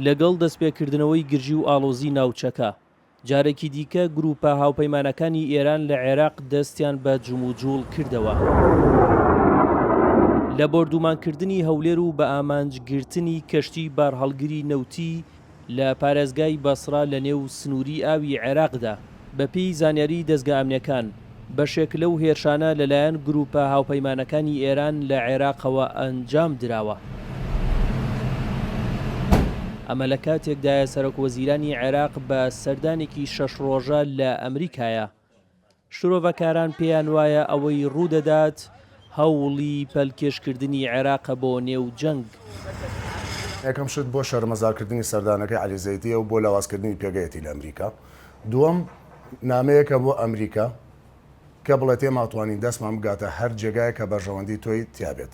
لەگەڵ دەستپێکردنەوەی گرژی و ئاڵۆزی ناوچەکە، جارێکی دیکە گرووپە هاوپەیمانەکانی ئێران لە عێراق دەستیان بە جموجووڵ کردەوە لە بۆردوومانکردنی هەولێر و بە ئامانج گرتنی کەشتیی بارهەڵگری نەوتیی لە پارێزگای بەسرە لەنێو سنووری ئاوی عێراقدا. بەپێی زانیاریی دەزگا ئەمنییەکان، بەشێک لەو هێرشانە لەلایەن گرووپە هاوپەیمانەکانی ئێران لە عێراقەوە ئەنجام دراوە. ئەمە لە کاتێکدایە سەرۆکوەزیرانی عێراق بە سەردانێکی شەش ڕۆژە لە ئەمریکایە. شرۆڤەکاران پێیان وایە ئەوەی ڕوودەدات هەوڵی پەلکێشکردنی عێراقە بۆ نێو جەنگ. یەکەم شت بۆ شەرمەزارکردنی سەردانەکەی عەلی زەیدییە و بۆ لاوازکردنی پێگەیەتی لە ئەمریکا. دووەم نامەیەکە بۆ ئەمریکا کە بڵێت ئێماتوانین دەستمان بگاتە هەر جێگایەک کە بەرژەوەندی تۆی تیابێت.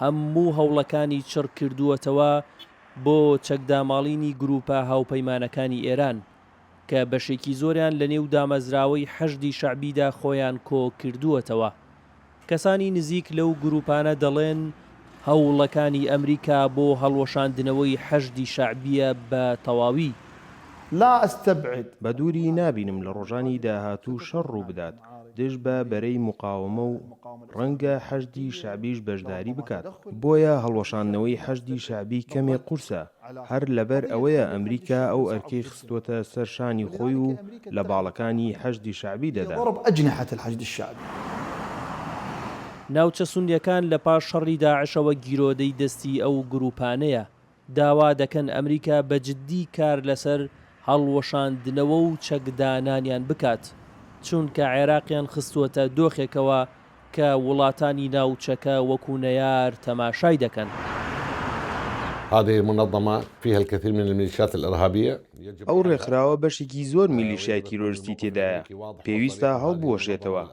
هەموو هەوڵەکانی چڕ کردووەتەوە بۆ چەکداماڵینی گرووپە هاوپەیمانەکانی ئێران، کە بەشێکی زۆریان لە نێو دامەزراوەی حەشدی شەعبیدا خۆیان کۆ کردووەتەوە. کەسانی نزیک لەو گرووپانە دەڵێن، هەوڵەکانی ئەمریکا بۆ هەڵوەشاندنەوەی حەشدی شەعبییە بە تەواوی. لا استبعد. بە دووری نابینم لە ڕۆژانی داهاتوو شەڕ ڕوو بدات، دژ بە بەرەی موقاومە و ڕەنگە حەشدی شەعبیش بەشداری بکات، بۆیە هەڵوەشاندنەوەی حەشدی شەعبی کەمێک قورسە، هەر لەبەر ئەوەیە ئەمریکا ئەو ئەرکەی خستووەتە سەر شانی خۆی و لە باڵەکانی حەشدی شەعبی دەدا. ناوچە سوننەکان لە پاش شەڕی داعشەوە گیرۆدەی دەستی ئەو گرووپانەیە، داوا دەکەن ئەمریکا بە جددی کار لەسەر هەڵوەشاندنەوە و چەکدانانیان بکات، چونکە عێراقیان خستووەتە دۆخێکەوە کە وڵاتانی ناوچەکە وەکو نەیار تەماشای دەکەن. هذه المنظمە فیها الکثیر من الملیشات الارهابیە. ئەو ڕێکخراوە بەشێکی زۆر میلیشیای تیرۆرستی تێدایە، پێویستە هەڵبوەشێتەوە،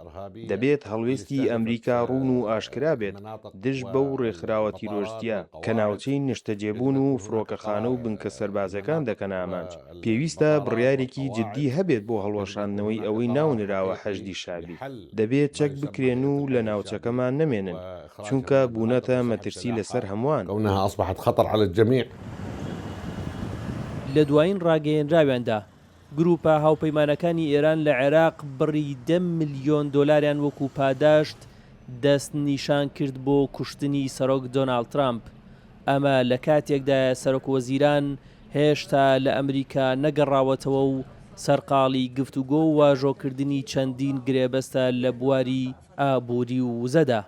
دەبێت هەڵوێستی ئەمریکا ڕوون و ئاشکرا بێت دژ بەو ڕێکخراوە تیرۆرستیە کە ناوچەی نشتەجێبوون و فرۆکەخانە و بنکە سەربازەکان دەکەنە ئامانج، پێویستە بڕیارێکی جدی هەبێت بۆ هەڵوەشاندنەوەی ئەوەی ناونراوە حەشدی شەعبی، دەبێت چەک بکرێن و لە ناوچەکەمان نەمێنن. چونکە بوونەتە مەترسی لەسەر هەمووان. کونها اصبحت خطر علی الجمیع. لە دوایین ڕاگەیەنراویاندا، گرووپە هاوپەیمانەکانی ئێران لە عێراق بڕی دە ملیۆن دۆلاریان وەکوو پاداشت دەستنیشان کرد بۆ کوشتنی سەرۆک دۆناڵد ترامپ. ئەمە لە کاتێکدایە سەرۆکوەزیران هێشتا لە ئەمریکا نەگەڕاوەتەوە و سەرقاڵی گفتوگۆ و واژۆکردنی چەندین گرێبەستە لە بواری ئابوری و وزەدا.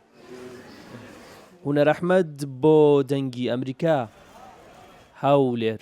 هونەرەحمەد بۆ دەنگی ئەمریکا هەولێر.